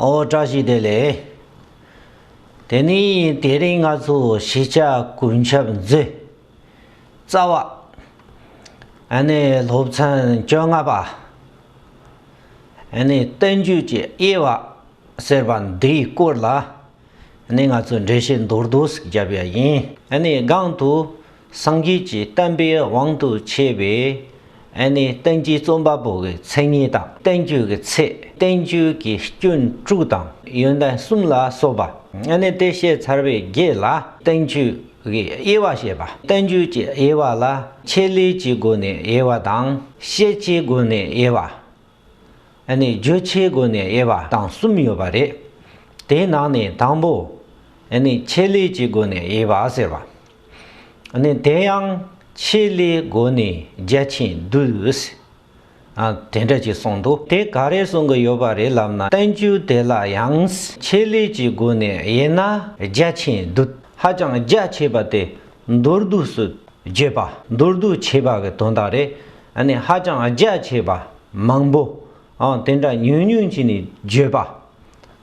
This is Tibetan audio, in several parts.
ཨོ་བཀྲ་ཤིས་བདེ་ལེགས། དེ་ནི་དེ་རིང་ང་ཚོ་གཞིས་ཆགས་དགུན་ཆབ་མཛོད། རྩ་བ། ཨ་ནི་སློབ་ཚན་བཅོ་ལྔ་པ། ཨ་ནི་བསྟན་བཅོས་ཀྱི་དབྱེ་བ་ཟེར་བ་འདིའི་སྐོར་ལ། ནི་ང་ཚོས་འགྲེལ་བཤད་མདོར་བསྡུས་སུ་བརྒྱབ་ཡ་ཡིན། ནི་སྒང་དུ་སངས་རྒྱས་ཀྱི་བསྟན་པའི་དབང་དུ་བྱས་པའི། ནི་བསྟན་བཅོས་རྩོམ་པ་པོ་གི་མཚན་ཉིད་དང་བསྟན་བཅོས་ཀྱི་ཚེ་བསྟན་བཅོས་ཀྱི་སྐྱོན་དྲུག་དང་ཡོན་ཏན་གསུམ་ལ་སོགས་པ། ནི་དེ་བཤད་ཚར་བའི་རྗེས་ལ་བསྟན་བཅོས་ཀྱི་དབྱེ་བ་བཤད་པ། བསྟན་བཅོས་ཀྱི་དབྱེ་བ་ལ་ཆེད་ལས་ཀྱི་སྒོ་ནས་དབྱེ་བ་དང་ཤེས་བྱའི་སྒོ་ནས་དབྱེ་བ། ནས་བརྗོད་བྱའི་སྒོ་ནས་དབྱེ་བ་དང་གསུམ་ཡོད་པ་རེད། དེའི་ནང་ནས་དང་པོ། ཆེད་ལས་ཀྱི་སྒོ་ནས་དབྱེ་བ་ཟེར་བ། དེ་ཡང་ཆེད་ལས་སྒོ་ནས་རྒྱ་ཆེན་བསྡུས། དེ་འདྲ་ཅིག་གསུངས་འདུག་དེ་ག་རེ་གསུང་གི་ཡོད་པ་རེད་ལབ་ན་བསྟན་བཅོས་དེ་ལ་ཡང་ཆེད་ལས་ཀྱི་སྒོ་ནས་དབྱེ་ན་རྒྱ་ཆེན་བསྡུས། ཧ་ཅང་རྒྱ་ཆེ་བ་དེ་མདོར་བསྡུས་སུ་བརྗོད་པ་མདོར་བསྡུས་བྱས་པ་གི་དོན་དག་རེད། ཨ་ནི་ཧ་ཅང་རྒྱ་ཆེ་བ་མང་པོ་ཨ་དེ་འདྲ་ཉུང་ཉུང་བྱས་ནས་བརྗོད་པ་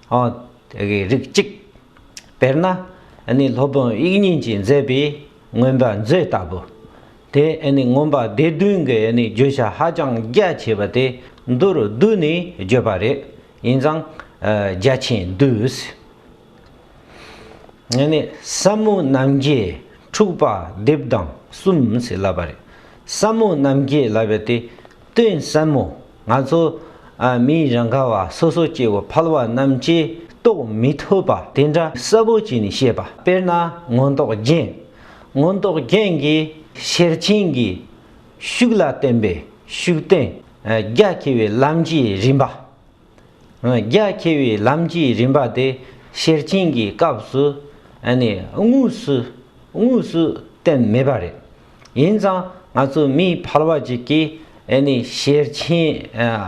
ཨ་དེ་གའི་རིགས་གཅིག། དཔེར་ན་ཨ་ནི་སློབ་དཔོན་དབྱིག་གཉེན་གྱིས་མཛད་པའི་མངོན་པ་མཛོད་ལྟ་བུ། དེ་ཨ་ནི་མངོན་པ་སྡེ་བདུན་གྱི་ཨ་ནི་བརྗོད་བྱ་ཧ་ཅང་རྒྱ་ཆེ་བ་དེ་མདོ་རུ་བསྡུས་ནས་བརྗོད་པ་རེད་ཡིན་ཙང་རྒྱ་ཆེན་བསྡུས། བསམ་མོ་རྣམ་རྒྱལ་འཁྲུགས་པ་སྡེབས་དང་གསུམ་ཞེས་བསླབ་པ་རེད། བསམ་མོ་རྣམ་རྒྱལ་བསླབ་པའི་དེ་དོན་བསམ་མོ་ང་ཚོ་མིའི་རང་ག་བ་སོ་སོ་སྐྱེ་བོ་ཕལ་བ་རྣམས་ཀྱིས་རྟོགས་མི་ཐུབ་པ་དེ་འདྲ་གསལ་བོ་བྱས་ནས་བཤད་པ་དཔེར་ན་མངོན་རྟོགས་རྒྱན། མངོན་རྟོགས་རྒྱན་གྱི་ཤེར་ཕྱིན་གྱི་ཤུགས་ལ་བརྟེན་པའི་ཤུགས་བསྟན། རྒྱ་ཆེ་བའི་ལམ་གྱི་རིམ་པ། རྒྱ་ཆེ་བའི་ལམ་གྱི་རིམ་པ་དེ་ཤེར་ཕྱིན་གྱི་སྐབས་སུ་དངོས་སུ་བསྟན་མེད་པ་རེད། ཡིན་ཙང་ང་ཚོ་མི་ཕལ་བ་ཅིག་གིས་ཤེར་ཕྱིན་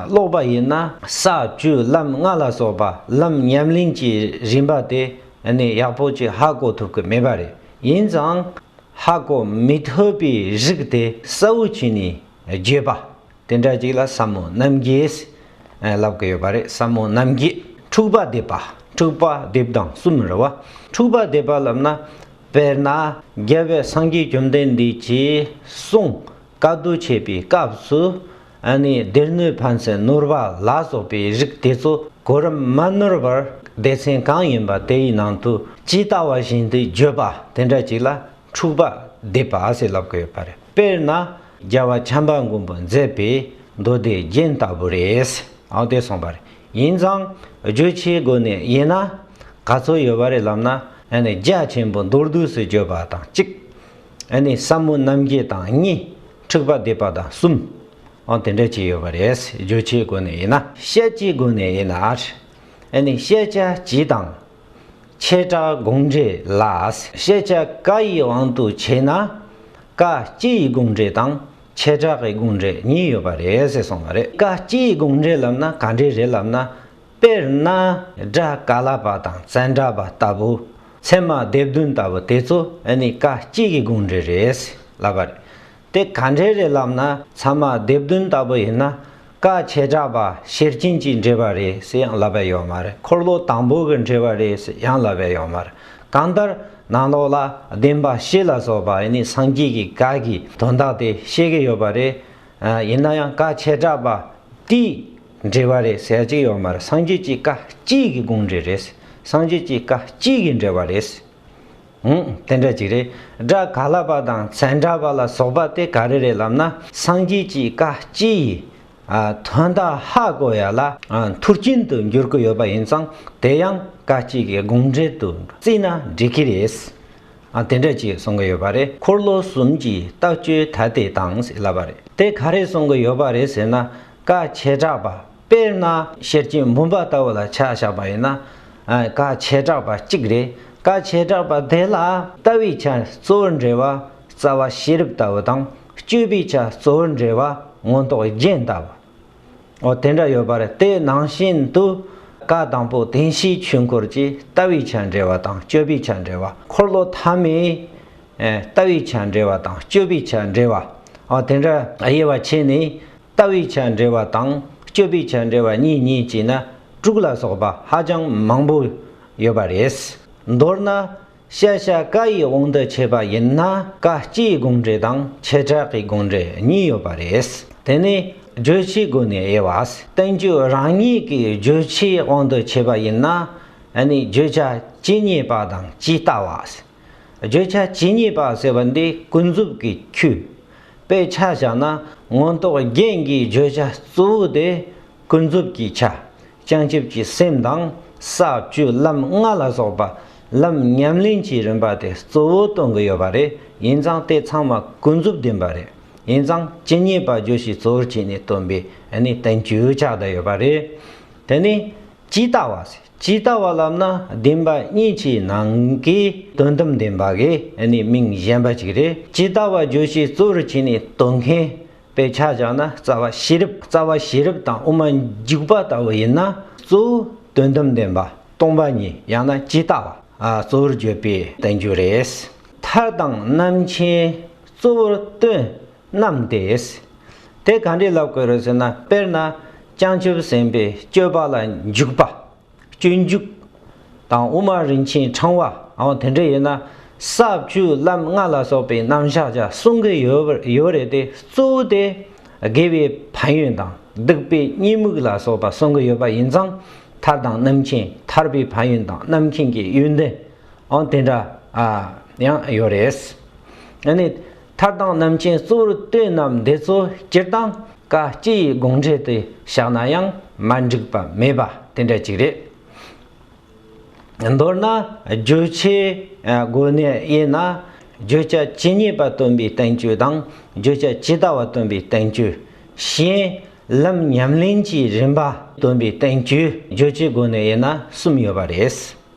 ཀློག་པ་ཡིན་ན་ས་བཅུ་ལམ་ལྔ་ལ་སོགས་པ་ལམ་ཉམས་གླིང་གྱི་རིམ་པ་དེ་ཡག་པོ་ཅིག་ཧ་གོ་ཐུབ་ཀྱི་མེད་པ་རེད། ཡིན་ཙང་ཧ་གོ་མི་ཐུབ་པའི་རིགས་དེ་གསལ་བོ་བྱས་ནས་བརྗོད་པ་དེ་འདྲ་ཅིག་ལ་ཟབ་མོ་རྣམ་རྒྱལ། ལབ་ཀི་ཡོད་པ་རེད་ཟབ་མོ་རྣམ་རྒྱལ། འཁྲུག་པ་འདེབས་པ་འཁྲུག་པ་འདེབས་དང་གསུམ་མི་རུང་བ། འཁྲུག་པ་འདེབས་པ་ལབ་ན། དཔེར་ན་རྒྱལ་བའི་སངས་རྒྱས་བཅོམ་ལྡན་འདས་ཀྱིས་གསུངས། བཀའ་བསྡུ་བྱེད་པའི་སྐབས་སུ། སྡེ་སྣོད་ཕན་ཚུན་ནོར་བ་ལ་སོགས་པའི་རིགས་དེ་ཚོ་གོ་རིམ་མ་ནོར་བར་སྡེ་ཚན་གང་ཡིན་པ་དེའི་ནང་དུ་ཇི་ལྟ་བ་བཞིན་དུ་བརྗོད་པ་དེ་འདྲ་ཅིག་ལ་འཁྲུག་པ་འདེབས་པ་ཞེས་ལབ་ཀི་ཡོད་པ་རེད་དཔེར་ན། རྒྱལ་བ་བྱམས་པ་མགོན་པོ་མཛད་པའི་མདོ་སྡེ་རྒྱན་ལྟ་བུ་རེད། ཨང་དེ་གསུངས་པ་རེད། ཡིན་ཙང་བརྗོད་བྱའི་སྒོ་ནས་དབྱེ་ན། ག་ཚོད་ཡོད་པ་རེད་ལབ་ན། རྒྱ་ཆེན་པོ་མདོར་བསྡུས་སུ་བརྗོད་པ་དང་གཅིག། ཟབ་མོ་རྣམ་བརྒྱད་དང་གཉིས། འཁྲིག་པ་སྡེ་པ་དང་གསུམ། ཨང་དེ་འདྲ་གཅིག་ཡོད་པ་རེད། བརྗོད་བྱའི་སྒོ་ནས་དབྱེ་ན། བཤད་བྱའི་སྒོ་ནས་དབྱེ་ན། བཤད་བྱ་སྤྱི་དང། བྱེ་བྲག་དགོངས་འགྲེལ་ལ། བཤད་བྱ་བཀའ་ཡི་དབང་དུ་བྱས་ན། བཀའ་སྤྱི་ཡི་དགོངས་འགྲེལ་དང་བྱེ་བྲག་གི་དགོངས་འགྲེལ་གཉིས་ཡོད་པ་རེད་ཟེར་སོང་བ་རེད། བཀའ་སྤྱི་ཡི་དགོངས་འགྲེལ་ལབ་ན་ག་འདྲས་རེད་ལབ་ན། དཔེར་ན། སྒྲ་ག་ལ་པ་དང་བཙན་སྒྲ་པ་ལྟ་བུ། ཚད་མ་སྡེ་བདུན་ལྟ་བུ་དེ་ཚོ་ནི་བཀའ་སྤྱི་ཡི་དགོངས་འགྲེལ་རེད་ཟེར་ལབ་པ་རེད། དེ་ག་འདྲའི་རེད་ལབ་ན་ཚང་མ་དེབ་བདུན་ལྟ་བུ་ཡིན་ན་དཀའ་བྱེ་བྲག་པ་ཤེར་རྐྱེན་གྱི་འགྲེལ་པ་རེད་ཟེར་ཡང་ལབ་པའི་ཡོད་མ་རེད་འཁོར་ལོ་དང་པོ་གི་འགྲེལ་བ་རེད་ཟེར་ཡང་ལབ་པའི་ཡོད་མ་རེད་གང་ལྟར་ནང་ལོགས་ལ་བདེན་པ་ཤེས་ལ་སོགས་པ་ནི་སངས་རྒྱས་ཀྱི་བཀའ་གྱི་དོན་དག་དེ་ཤེས་ཀྱི་ཡོད་པ་རེད་ཡིན་ན་ཡང་དཀའ་བྱེ་བྲག་པ་དེའི་འགྲེལ་བ་རེད་ཟེར་གྱི་ཡོད་མ་རེད་སངས་རྒྱས་ཀྱི་བཀའ་གཅིག་གི་དགོངས་འགྲེལ་རེད་སངས་རྒྱས་ཀྱི་བཀའ་གཅིག་གི་འགྲེལ་བ་རེད། འོང། དེ་འདྲ་ཅིག་རེད། སྒྲ་ག་ལ་པ་དང་ཚན་འདྲ་པ་ལ་སོགས་པ་སྟེ་ག་རེ་རེད་ལབ་ན་སངས་རྒྱས་ཀྱི་བཀའ་སྤྱི་ཡི། དོན་དག་ཧ་གོ་ཡ་ལ། མཐུར་ཕྱིན་དུ་འགྱུར་གི་ཡོད་པ་ཡིན་ཙང་དེ་ཡང་བཀའ་སྤྱི་གི་དགོངས་འགྲེལ་དུ་བརྩིས་ན་འགྲིག་གི་རེད། དེ་འདྲ་ཅིག་གསུང་གི་ཡོད་པ་རེད། འཁོར་ལོ་གསུམ་གྱི་ལྟ་སྤྱོད་ད་ལྟའི་དང་ཟིག་ལབ་པ་རེད། དེ་ག་རེ་གསུང་གི་ཡོད་པ་རེད་ཟེར་ན་བཀའ་ཆད་གྲགས་པ། དཔེར་ན། ཤེར་ཕྱིན་བུམ་པ་ལྟ་བུ་ལ་ཆ་བཞག་པ་ཡིན་ན། བཀའ་བྱེ་བྲག་པ་གཅིག་རེད། བཀའ་བྱེ་བྲག་པ་དེ་ལ་ལྟ་བའི་ཆ་གཙོ་བོར་འབྲེལ་བ་རྩ་བ་ཤེས་རབ་ལྟ་བུ་དང་སྤྱོད་པའི་ཆ་གཙོ་བོར་འབྲེལ་བ་མངོན་རྟོགས་རྒྱན་ལྟ་བུ། འོ་དེ་འདྲ་ཡོད་པར་དེ་ནང་བཞིན་དུ། བཀའ་དང་པོ་བདེན་བཞིའི་ཆོས་འཁོར་གྱི་ལྟ་བའི་ཆ་འབྲེལ་བ་དང་སྤྱོད་པའི་ཆ་འབྲེལ་བ་འཁོར་ལོ་ཐ་མའི། ལྟ་བའི་ཆ་འབྲེལ་བ་དང་སྤྱོད་པའི་ཆ་འབྲེལ་བ། འོ་དེ་འདྲ་དབྱེ་བ་ཕྱེ་ནས་ལྟ་བའི་ཆ་འདྲ་བ་དང་སྤྱོད་པའི་ཆ་འདྲ་བ་གཉིས་གཉིས་བྱས་ན་དྲུག་ལ་སོགས་པ་ཧ་ཅང་མང་པོ་ཡོད་པ་རེད། མདོར་ན། ཤ་ཤ་ཀ་ཡི་དབང་དུ་བྱས་པ་ཡིན་ན་ཀ་སྤྱིའི་དགོངས་འགྲེལ་དང་བྱེ་བྲག་གི་དགོངས་འགྲེལ་གཉིས་ཡོད་པ་རེད། དེ་ནི་བརྗོད་བྱའི་སྒོ་ནས་དབྱེ་བ་བསྟན་བཅོས་རང་ཉིད་ཀྱི་བརྗོད་བྱའི་དབང་དུ་བྱས་པ་ཡིན་ན་ནི་བརྗོད་བྱ་ཇི་སྙེད་པ་དང་ཇི་ལྟ་བ། བརྗོད་བྱ་ཇི་སྙེད་པ་ཟེར་བ་འདི་ཀུན་རྫོབ་ཀྱི་ཁྱུ། དཔེ་ཆ་བཞག་ན་མངོན་རྟོགས་རྒྱན་གྱི་བརྗོད་བྱ་གཙོ་བོ་དེ་ཀུན་རྫོབ་ཀྱི་ཆ། བྱང་ཆུབ་ཀྱི་སེམས་དང་ས་བཅུ་ལམ་ལྔ་ལ་སོགས་པ་ལམ་ཉམས་ལེན་གྱི་རིམ་པ་དེ་གཙོ་བོ་སྟོན་གྱི་ཡོད་པ་རེད་ཡིན་ཙང་དེ་ཚང་མ་ཀུན་རྫོབ་བདེན་པ་རེད་ཡིན་ཙང་ཇི་སྙེད་པ་བརྗོད་གཞི་གཙོ་བོར་བྱས་ནས་སྟོན་པའི་ནི་བསྟན་བཅོས་ཆགས་བསྡད་ཡོད་པ་རེད། དེ་ནི་ཇི་ལྟ་བ། ཇི་ལྟ་བ་ལབ་ན་བདེན་པ་གཉིས་ཀྱི་ནང་གི་དོན་དམ་བདེན་པ་གི་ནི་མིང་གཞན་པ་ཅིག་རེད་ཇི་ལྟ་བ་བརྗོད་གཞི་གཙོ་རུ་བྱས་ནས་དོན་མཁན་པས་ཆ་བཞག་ན་རྩ་བ་ཤེས་རབ་རྩ་བ་ཤེས་རབ་དང་དབུ་མ་འཇུག་པ་ལྟ་བུ་ཡིན་ན་གཙོ་བོ་དོན་དམ་བདེན་པ་སྟོང་པ་ཉིད་ཡང་ན་ཇི་ལྟ་བ་གཙོ་བོར་བརྗོད་པའི་བསྟན་བཅོས་རེད། མཐར་དང་རྣམ་མཁྱེན་གཙོ་བོར་སྟོན་རྣམས་ཏེ། དེ་གང་འདྲའི་ལབ་དགོས་རེད་ཟེར་ན་དཔེར་ན། བྱང་ཆུབ་སེམས་དཔའི་སྤྱོད་པ་ལ་འཇུག་པ། སྤྱོད་འཇུག། དང་དབུ་མ་རིན་ཆེན་འཕྲང་བ་འམ་དེ་འདྲ་ཡོད་ན། ས་བཅུ་ལམ་ལྔ་ལ་སོགས་པའི་རྣམ་གཞག་ཅག་གསུང་གི་ཡོད་རེད་དེ་གཙོ་བོ་དེ། དགེ་བའི་ཕན་ཡོན་དང་སྡིག་པའི་གཉིད་རྨུགས་ལ་སོགས་པ་གསུང་གི་ཡོད་པ་ཡིན་ཙང་ཐར་དང་རྣམ་མཁྱེན་ཐར་པའི་ཕན་ཡོན་དང་རྣམ་མཁྱེན་གྱི་ཡོན་ཏན་འམ་དེ་འདྲ་ཡང་ཡོད་རེད། མཐར་དང་རྣམ་མཁྱེན་གཙོ་བོར་བསྟོད་རྣམས་འདི་ཚོ་སྤྱིར་བཏང་བཀའ་སྤྱི་ཡི་དགོངས་འགྲེལ་དུ་བཞག་ན་ཡང་མ་འགྲིག་པ་མེད་པ་དེ་འདྲ་ཅིག་རེད། མདོར་ན་བརྗོད་བྱའི་སྒོ་ནས་དབྱེ་ན། བརྗོད་བྱ་ཇི་སྙེད་པ་སྟོན་པའི་བསྟན་བཅོས་དང་བརྗོད་བྱ་ཇི་ལྟ་བ་སྟོན་པའི་བསྟན་བཅོས། གཞན། ལམ་ཉམས་ལེན་གྱི་རིམ་པ་སྟོན་པའི་བསྟན་བཅོས་བརྗོད་བྱའི་སྒོ་ནས་དབྱེ་ན་གསུམ་ཡོད་པ་རེད།